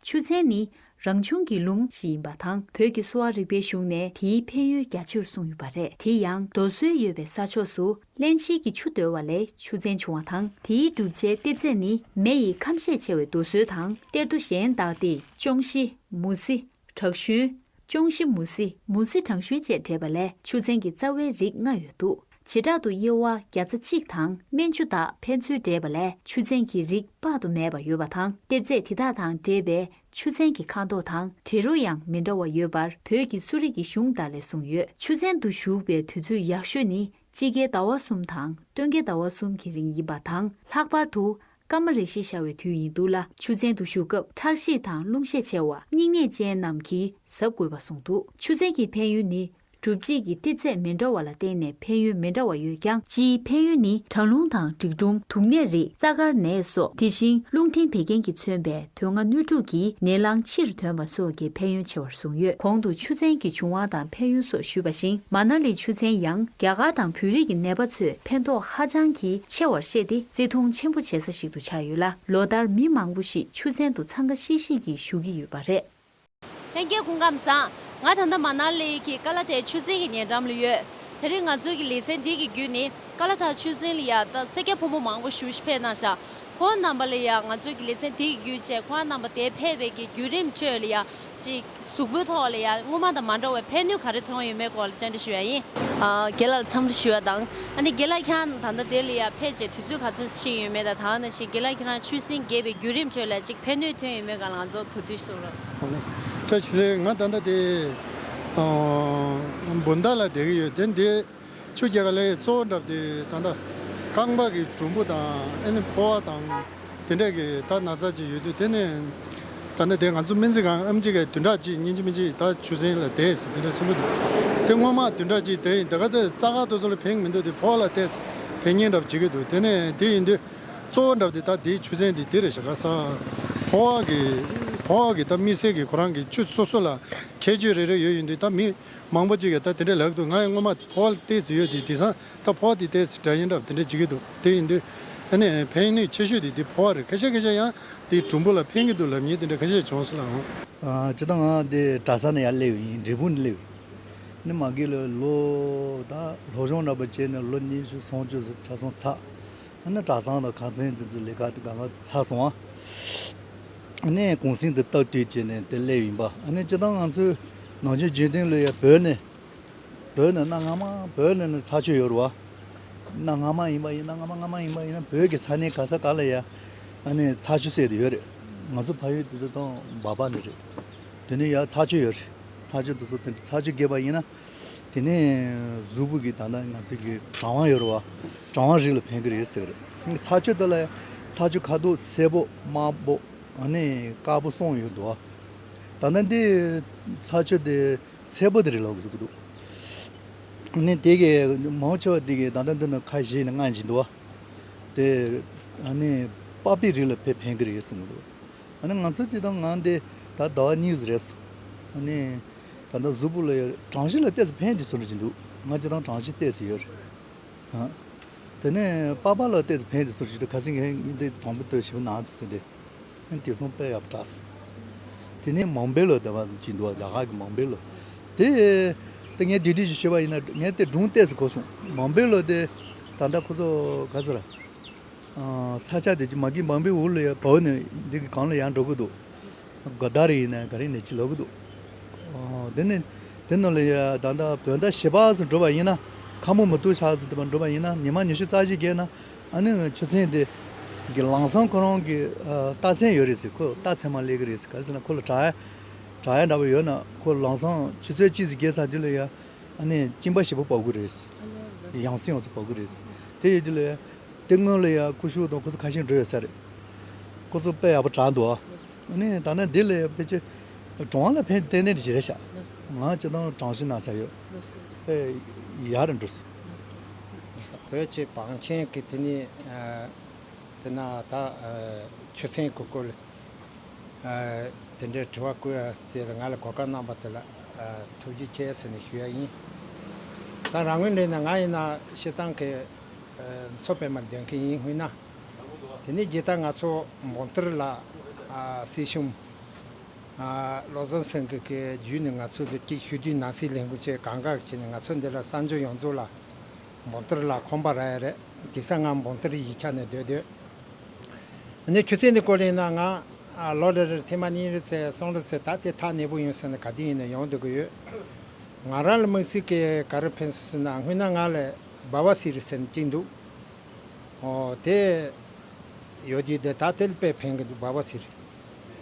ཆུ་ཚན་ནི་རང་བྱུང་གི་ལུང་ཞིག་ཡིན་པ་དང་བོད་ཀྱི་གསོ་བ་རིག་པའི་གཞུང་ནས་དེའི་ཕན་ཡོན་རྒྱ་ཆེར་གསུངས་ཡོད་པ་རེད་དེ་ཡང་རྡོ་སོལ་ཡོད་པའི་ས་ཕྱོགས་སུ་བརླན་ཕྱིན་གྱི་ཆུ་བརྡོལ་བ་ལས་ཆུ་ཚན་བྱུང་བ་དང་དེའི་གྲུབ་ཆའི་ལྟེབ་རྫས་ནི་མེ་ཡི་ཁམས་ཤས་ཆེ་བའི་རྡོ་སོལ་དང་གཏེར་རྡོ་གཞན་དག་སྟེ་ཅོང་ཞི། མུ་ཟི། བྲག་ཞུན། ཅོང་ཞི་མུ་ཟི། མུ་ཟི་བྲང་ཞུན་བཅས་འདྲེས་པ་ལས་ཆུ་ཚན་གྱི་རྩ་བའི་རིགས་ལྔ་ཡོད་དོ། བྱེ་བྲག་ཏུ་དབྱེ་བ་བརྒྱ་རྩ་གཅིག་དང་སྨན་ཆུ་དག་ཕན་ཚུན་འདྲེས་པ་ལས་ཆུ་ཚན་གྱི་རིགས་དཔག་ཏུ་མེད་པ་ཡོད་པ་དང་གཏེར་རྫས་དེ་དག་དང་འདྲེས་པའི་ཆུ་ཚན་གྱི་ཁ་དོག་དང་དྲི་རོ་ཡང་མི་འདྲ་བ་ཡོད་པར་བོད་ཀྱི་གསོ་རིག་གི་གཞུང་དག་ལས་གསུངས་ཡོད། ཆུ་ཚན་དུ་ཞུགས་པའི་དུས་ཚོད་ཡག་ཤོས་ནི་དཔྱིད་ཀའི་ཟླ་བ་གསུམ་དང་སྟོན་ཀའི་ཟླ་བ་གསུམ་གྱི་རིང་ཡིན་པ་དང་ལྷག་པར་དུ་སྐར་མ་རེ་ཞེས་བྱ་བའི་དུས་ཡིན་འདུག་ལ། ཆུ་ཚན་དུ་བཞུགས་སྐབས་ཁྲག་ཤེད་དང་རླུང་ཤེད་ཆེ་བ་སྙིང་ནད་ཅན་རྣམས་ཀྱིས་གཟབ་དགོས་པ་གསུངས་འདུག་ཆུ་ཚན་གྱི་ཕན་ཡོན་ནི། གྲུབ་བྱེད་ཀྱི་ཏི་ཚད་མི་འདྲ་བ་ལ་བརྟེན་ནས་ཕན་ཡོན་མི་འདྲ་བ་ཡོད་ཀྱང། སྤྱིའི་ཕན་ཡོན་ནི་གྲང་རླུང་དང་འབྲིག་སྒྲོམ་དུག་ནད་རིགས་རྩ་དཀར་ནད་སོགས་དེ་བཞིན་རླུང་འཕྲིན་བད་ཀན་གྱིས་མཚོན་པའི་དོན་ལྔ་སྣོད་དྲུག་གི་ནད་རླངས་ཕྱིར་དོན་པ་སོགས་ཀྱི་ཕན་ཡོན་ཆེ་བར་གསུངས་ཡོད་གོང་དུ་ཆུ་ཚན་གྱི་བྱུང་བ་དང་ཕན་ཡོན་སོགས་ཞུས་པ་བཞིན་མ་ན་ལི་ཆུ་ཚན་ཡང་རྒྱ་གར་དང་བོད་རིགས་ཀྱི་ནད་པ་ཚོས་ཕན་ཐོགས་ཧ་ཅང་གི་ཆེ་བར་བཤད་དེ་བརྩི་མཐོང་ཆེན་པོ་བྱེད་ས་ཞིག་ཏུ་ཆགས་ཡོད་ལ་ལོ་ལྟར་མི་མང་པོ་ཞིག་ཆུ་ཚན་དུ་འཚང་ཁ་ཤིག་ཤིག་གིས་ཞུགས་ཀྱི་ཡོད་པ་རེད། ལྷན་རྒྱས་སྐུ་ཁམས་བཟང། ང་ད་ལྟ་མ་ནར་ལི་ཡི་ཀ་ལ་ཐའི་ཆུ་རྫིང་གི་ཉེ་འགྲམ་ལ་ཡོད། དེ་རིང་ང་ཚོའི་གི་ལི་ཚན་འདི་གི་བརྒྱུད་ནི་ཀ་ལ་ཐའི་ཆུ་རྫིང་ལ་ཡ་ད་སེར་སྐྱ་ཕོ་མོ་མང་པོ་ཞུགས་ཤི་ཕེ་ནང་ཤ་ཁོང་རྣམ་པ་ལ་ཡ་ང་ཚོའི་གི་ལི་ཚན་འདི་གི་བརྒྱུད་བྱས་ཁོང་རྣམ་པ་དེ་ཕེ་བའི་གི་བརྒྱུད་རིམ་བཅོས་ལ་ཡ་ཅི་གཟུགས་པོའི་ཐོག་ལ་ཡ་སྔོན་མ་དང་མ་འདྲ་བའི་ཕན་ནུས་ག་རེ་ཐོན་ཡོད་མེད་སྐོར་ལ་བཅར་འདྲི་ཞུ་བ་ཡིན། རྒན་ལགས་ལ་འཚམས་འདྲི་ཞུ་བ་དང། ཨ་ནི་དགེ་ལགས་ཁྱང་ད་ལྟ་དེ་ལ་ཡར་ཕེབས་རྗེས་དུས་ཚོད་ག་ཚོད་ཕྱིན་ཡོད་མེད་དང་ད་ནི་ཞིག་དགེ་ལགས་ཁྱེད་རང་ཆུ་སྲིན་རྒས་པའི་བརྒྱུད་རིམ་ཁྲོད་ལ་ཅིག་ཕན་ནུས་ཐོན་ཡོད་མེད་གང་ལ་ང་ཚོར་གོ་ཐུས་གསུངས་རོགས། བཀྲ་ཤིས་ལགས་ང་ད་ལྟ་དེ་སྦུན་ཟླ་ལ་བསྡད་ཀྱི་ཡོད་དེ་འདི་ཆུ་རྒྱལ་ཁ་ལས་གཙོ་བོ་འགྲམ་དེ་ད་ལྟ་རྐང་པ་གི་གྲུམ་བུ་དང་ཨ་ནི་ཕོ་བ་དང། དེ་འདྲས་ཀྱི་ད་ན་ཚ་གཅིག་ཡོད་དུས་དེ་ནི། ད་ནི་དེ་ང་ཚོ་སྨན་རྩིས་ཁང་ཨམ་གཅིག་གི་བདུན་ཕྲག་གཅིག་ཉིན་གཅིག་མི་གཅིག་ད་ཆུ་ཚན་ལ་བསྡད་ཟེར་དེ་འདྲས་གསུངས་ཀྱི་འདུག་དེ་སྔོན་མ་བདུན་ཕྲག་གཅིག་དེ་ཡིན་དེ་ག་ཚོད་རྩ་ཁག་ཏུ་ཚོ་ལ་བེང་མི་འདུག་དེ་ཕོ་བ་ལ་བལྟས་ཚེ་བེང་རྙེད་འདྲ་བོ་བྱེད་ཀྱི་འདུག་དེ་ནི་དེ་ཡིན་དུས། གཙོ་བོ་འདྲ་བོ་དེ་ད་དེའི་ཆུ་ཚན་འདི་དེ་རེད་ཞག་ག་ས། ཕོ་བ་གི། ཕོ་བ་གི་ད་མི་སེར་གྱི་ཁོ་རང་གི་ཆུ་སོ་སོ་ལ་ཁྱད་ཆོས་རེ་རེ་ཡོད་ཡིན་དུས་ད་མི་མང་པོ་གཅིག་གི་ད་དེ་འདྲས་ལག་ཏུ་ང་ཡི་སྔོན་མ་ཕོ་བ་ལ་བལྟས་ཚེ་ཡོད་དེ་དེ་སང་ད་ཕོ་བ་དེ་ལྟའི་སྒྲ་ཡིན་རབས་དེ་འདྲ་བྱེད་ཀྱི་འདུག་དེ་ཡིན་དུས། ཨ་ནི། ཕན་ནུས་ཆེ་ཤོས་དེ་འདི་ཕོ་བ་རེད་ཁ་ཤས་ཁ་ཤས་ཡང། འདི་གྲུམ་བུ་ལ་ཕན་གྱི་འདུག་ལབ་ཉེས་དེ་འདྲ་ཁ་ཤས་བྱུང་སོང་ལ་ཨང། བྱེད་དང། དེ་གྲྭ་ས་ནས་ཡར་སླེབས་ཡིན་འབྲས་སྤུངས་ནས་སླེབས་ཡིན། ནི་མ་གིས་ལོ། ལོ་གཞོང་འདྲ་པོ་བྱས་ནས་ལོ་ཉི་ཤུ་སོང་བཅུ་སོང་ཆ་སོང་ཚར། ཨ་ནི་གྲྭ་སང་དང་གང་ཚན་དེ་ཚོའི་ལས་ཀ་དེ་གང་གང་ཚར་སོང། ཨ་ནི་གུང་སེང་དེ་བརྟག་དུས་བྱས་ནས་དེ་སླེབས་ཡིན་པ་ཨ་ནི་བྱེད་དང་ང་ཚོས། ནང་ཆོས་རྒྱུན་གཏན་ལོས་ཡར་བོད་ནས། བོད་ནི་གནའ་སྔ་མ་བོད་ནི་ནི་ཚྭ་ཆུ་ཡོད་རུ་བ། གནའ་སྔ་མ་ཡིན་པ་ཡིན་གནའ་སྔ་མ་སྔ་མ་ཡིན་པ་ཡིན་བོད་ཀྱི་ས་གནས་ག་ས་ག་ལ་ཡང་ཨ་ནི་ཚྭ་ཆུ་བསྲེས་དེ་ཡོད་རེད། ང་ཚོ་ཕ་ཡུལ་དེ་དང་འབའ་པ་ནི་རེད། དེ་ནས་ཡང་ཚྭ་ཆུ་ཡོད་རེད། ཚྭ་ཆུ་དེ་ཚོ་དེ་ཚྭ་ཆུ་རྒྱས་པ་ཡིན་ན། དེ་ནས་གཟུགས་པོ་གི་ད་ལྟ་ང་ཚོ་གི་གྲང་བ་ཡོད་རུ་བ། གྲང་བ་རིགས་ལ་ཕན་གི་རེད་ཟེར་གི་རེད། ཚྭ་ཆུ་དེ་ལ་ཡང་ཚྭ་ཆུ་ཁ་དོག་སེར་པོ་དམར་པོ་ཨ་ནི་དཀར་པོ་སོང་ཡོད་དུ་བ། ད་ལྟ་འདི་ཚྭ་ཆུ་དེ། གསལ་པོ་དེ་རེད་ལབ་ཀྱི་འདུག་ནས་དེ་གའི་མང་ཆེ་བ་དེ་གའི་ད་ལྟ་འདི་ནི་ཁ་བཞེས་ནས་སྔ་འགྱིང་འདུག་དེ་ནས་པགས་པའི་རིགས་ལ་ཕེབས་ཕན་གྱི་རེད་གསུངས་ཀྱི་འདུག་ཨ་ནི་ང་ཚོ་དེ་དང་ང་འདི་ད་ཟླ་བ་གཉིས་ཟིག་རེད་སོང་ཨ་ནས་ད་ལྟ་གཟུགས་པོ་ལ་གྲངས་གཞི་ལ་བལྟས་ཚེ་ཕན་གྱི་ཟུར་གྱི་འདུག་ང་ཅི་དང་གྲངས་གཞི་བལྟས་ཟིག་ཡོད་རེད་དེ་ནས་པགས་པ་ལ་བལྟས་ཚེ་ཕན་གྱི་ཟུར་གྱི་འདུག་ག་ཚེ་ངས་འདི་དང་པོ་ལྟོས་ཞེས་པ་ནང་ཚུད་ཚུད་དེ། ཨན་དེ་སོང་པས་ཡབ་བྲགས་སུ། དེ་ནས་མང་པའི་ལོ་དེ་བ་ཅིག་འདུག་རྒྱ་གར་གྱི་མང་པའི་ལོ། དེ། དེ་ངས་འདྲི་འདྲི་ཞིག་བྱས་པ་ཡིན་ན་ངས་དེ་སྒྲུང་གཏད་སུ་གོ་སོང། མང་པའི་ལོ་དེ། ད་ལྟ་ཁོ་ཚོ་ག་ཚོད་ར། ས་ཆ་དེ་ཅི་མ་གིན་འབངས་པའི་འུར་ལོ་ཡ་བོ་ནི་འདི་གི་གང་ལ་ཡང་འགྲོ་གི་འདུག། ག་ད་རིང་ནས་ག་རིང་ནས་ཅི་ལབ་གི་འདུག། དེ་ནི། དེ་རྣམས་ལ་ཡ་ད་ལྟ་བོད་ཟླ་བཞི་པ་སུ་འགྲོ་བ་ཡིན་ན། ཁ་མོ་མུ་ཏུག་ཆགས་སུ་འདུག་པ་འགྲོ་བ་ཡིན་ན་ཉི་མ་ཉི་ཤུ་རྩ་བཞི་བརྒལ་ན། ཨ་ནི་ཆུ་ཚན་དེ་གི་ལང་སང་ཁོ་རང་གི་རྟ་ཚན་ཡོད་རེད་ཟེར་ཁོས་རྟ་ཚན་མ་གླས་ཀི་རེད་ཟེར་ག་ཟེར་ན་ཁོ་ལ་བྲག་ཡ་འདྲ་པོ་ཡོད་ན་ཁོ་ལང་སང་ཆུ་ཚོད་གཅིག་ཟིག་བསྐྱལ་ས་དེ་ལ་ཡ་ཨ་ནི་གཅིན་པ་ཞེ་པོ་བབས་ཀི་རེད་ཟེར་ཡང་སྲིང་བ་སོགས་བབས་ཀི་རེད་ཟེར་དེ་ཡོད་དུས་ལ་ཡ་དེ་སྔོན་ལ་ཡ་ཁོ་ཤུག་དང་ཁོ་ཚོ་ཁ་ཤིང་འགྲོ་ཡོད་ས་རེད་ཁོ་ཚོ་དཔེ་ཡག་པོ་དྲག་འདུག་ཨ་ནི་ད་ནི་འདི་ལ་ཡ་ཕལ་ཆེར་གྲོང་ལ་ཕན་ཏན་ཏན་གྱི་བྱེད་ར་ཤག་ང་ལྕེ་ཐང་གྲང་ཤིང་ན་ས་ཡོད་དཔེ་ཡག་རེད་འགྲོ་སྲིད། བོད་ཀྱི་བང་ཆེན་གྱི་དེ་ནི་དེ་ན་ད་ཆུ་ཚན་གུ་གུ་ལ་དེ་འདྲའི་དྲི་བ་བསྐུལ་ཡ་ཟེར་ང་ལ་གོ་སྐབས་གནང་པ་དེ་ལ་ཐུགས་རྗེ་ཆེ་ཟེར་ནས་ཞུ་ཡ་ཡིན། ད་རང་ངོས་འདྲེན་ན་ང་ཡིན་ན་ཤི་སྟངས་ཀྱི་མཚོ་པད་མར་འདོན་མཁན་ཡིན་སྔུན་ན། དེ་ནས་རྗེས་ད་ང་ཚོ་འབོམ་ཐེར་ལ་སྲིད་གཞུང། བློ་བཟང་སེང་གེ་ཀྱི་རྒྱུད་ནས་ང་ཚོ་དུ་ཏྲིག་ཞུ་དུས་ནང་སྲིད་ལས་འགུལ་བཅས་གང་དགའ་བྱས་ནས་ང་ཚོ་འདི་ལ་གསར་འབྱོར་ཡོངས་རྫོགས་ལ་འབོམ་ཐོར་ལ་ཁོམ་པ་ར་ཡ་རེད་གི་ས་ངམ་འབོམ་ཐོར་ཡིག་ཆ་ནས་སྡོད་སྡོད་ནས་ཆུ་ཚད་འདི་ཀོ་ལེན་ན་ང་ལོ་རེ་རེར་ཐེངས་མ་གཉིས་རེ་ཚེ་སྲོང་རེ་ཚེ་ད་དེ་ཐག་གནས་པོ་ཡོང་ཟེར་ན་ག་དུས་ཡིན་ན་ཡོང་སྡོད་ཀྱི་ཡོད་ང་རང་ལ་དམིགས་བསལ་གྱི་ག་རེ་ཕན་སོང་ཟེར་ན་སྔོན་ན་ང་ལ་སྦ་བ་སི་རི་ཟེར་ནས་གཅིག་འདུག་ཨོ་དེ་ཡོད་དུས་དེ་ད་དེ་ལ་དཔེ་ཕན་གྱི་འདུག་སྦ་བ་སི་རི།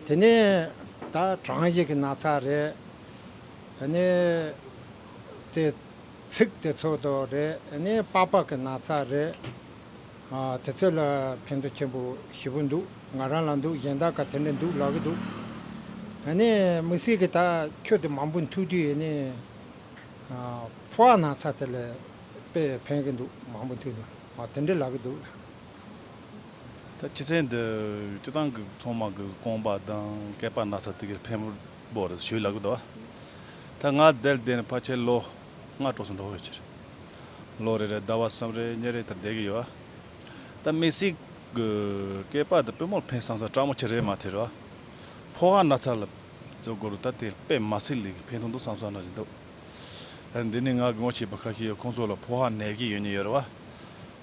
དེ་ནས་ད་གྲངས་ཡིག་གི་ན་ཚ་རེད། དེ་ནས་དེ་ཚིག་དེ་ཚོ་དོ་རེད་དེ་ནས་པགས་པགས་གི་ན་ཚ་རེད། དེ་ཚོ་ལ་ཕན་ཐོགས་ཆེན་པོ་བཞི་པོ་འདུག་ང་རང་ལ་འདུག་གཞན་དག་ག་དེ་འདྲ་འདུག་ལབ་གི་འདུག། དེ་ནས་མི་སྲིད་གི་ད་ཁྱོད་དེ་མང་པོ་འཐུས་དུས་ནས་པགས་ན་ཚ་དེ་ལས་དཔེ་ཕན་གི་འདུག་མང་པོ་འཐུས་ནས་དེ་འདྲ་ལབ་གི་འདུག། ད་ཕྱི་ཚེས་འདིར་སྤྱི་བཏང་གི་ཚོང་དམག་གི་རྐང་པ་དང་སྐེད་པ་ན་ས་ཐིག་གི་འཕན་པོར་བཞུད་ལ་གུ་དོ། ད་ང་དལ་དེ་ནས་ཕ་ཁྱེད་ལོ་ལྔ་གྲོགས་སུ་འགྲོ་ཡོད་ཕྱིར། ལོ་རེ་རེར་ཟླ་བ་གསུམ་རེ་གཉིས་རེ་དེར་བསྡད་ཀྱི་ཡོད། ད་མི་སྲིད་གི་སྐེད་པ་དང་པུས་མོར་འཕན་སང་ས་སྤྲ་མོ་ཁྱེད་རེད་མ་ཐེར། ཕོ་ཧ་ན་ཚ་ལ་བཙོས་དགོས་རུ་ད་དེ་དཔེ་མ་སྲིད་ལས་ཀྱི་འཕན་ཐུང་འདུག་སང་ས་ན་རེད་འདུག། འདི་ནི་ང་གི་ངོ་ཤེས་པ་ཁ་ཤས་ཡོད་ཁོང་ཚོ་ལ་ཕོ་ཧ་ནད་ཀྱི་ཡོད་ནི་ཡོད་རེད་བ།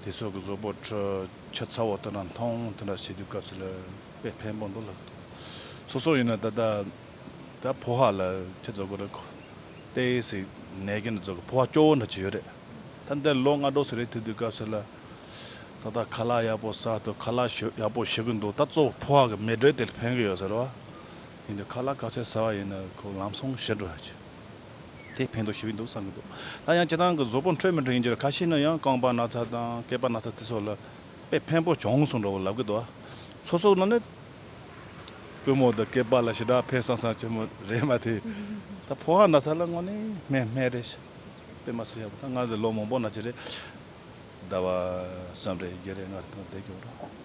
དེ་སོག་གི་བཟོ་པོ་ཁྲོད་ཆ་ཚ་བོ་དེ་འདྲ་མཐོང་དེ་འདྲ་བྱེད་དུས་སྐབས་སུ་ལ་དཔེ་ཕན་པོ་འདུག་ལ། སོ་སོ་ཡིན་ན་ད་ལྟ་ད་ཕོ་ཧ་ལ་ཁྱེད་བཟོ་དགོས་རེད་ཁོ། ཏའེ་སི་ནད་ཀྱི་འདྲ་བཟོ་དགོས་ཕོ་ཧ་སྐྱོ་བོ་འདྲ་བྱེད་ཡོད་རེད། ད་འདི་ལོ་ལྔ་དྲོ་ཟེར་རེད་ཐེབས་དུས་སྐབས་སུ་ལ། ད་ལྟ་ཁ་ལག་ཡག་པོ་སྲ་འདུག་ཁ་ལག་ཞོ་ཡག་པོ་ཞུ་གི་འདུག་ད་གཙོ་བོ་ཕོ་ཧ་གི་མེ་དྲོད་དེ་ལ་ཕན་གི་ཡོད་ཟེར་རེད་བ། ཡིན་དུས་ཁ་ལག་ག་ཚད་སྲ་བ་ཡིན་ན་ཁོ་ལམ་སོང་ཞི་འགྲོ་ཧ་ཅིག། དེ་ཕན་ཐོགས་ཞི་བས་འདུག་བསམ་གྱི་འདུག་ད་ཡང་བྱེ་ཐང་གི་བཟོ་པོ་འཕྲོད་མི་འཕྲོད་ཡིན་རྒྱུ་ལ་ཁ་ཤས་ནི་ཡང་རྐང་པ་ན་ཚ་དང་སྐེད་པ་ན་ཚ་དེ་སོགས་ལ་དཔེ་ཕན་པོ་བྱུང་སོང་འདྲ་བོ་ལབ་གི་འདུག་ཚོ་སོགས་ན་ནི་པུས་མོ་དང་སྐེད་པ་ལ་ཞི་དྲག་ཕན་སང་སང་བྱེད་མོ་རེད་མ་དེ་ད་ཕོ་ཧ་ན་ཚ་ལ་དངོས་ནས་སྨན་སྨན་རེད་ཤི་དཔེ་མ་ཚུགས་ཡག་པོ་ད་སྔར་ལས་ལོ་མང་པོ་ན་བྱེད་རེད་ཟླ་བ་གསུམ་རེད་བརྒྱད་རེད་སྔར་དང་བསྡད་ཀྱང་རུང།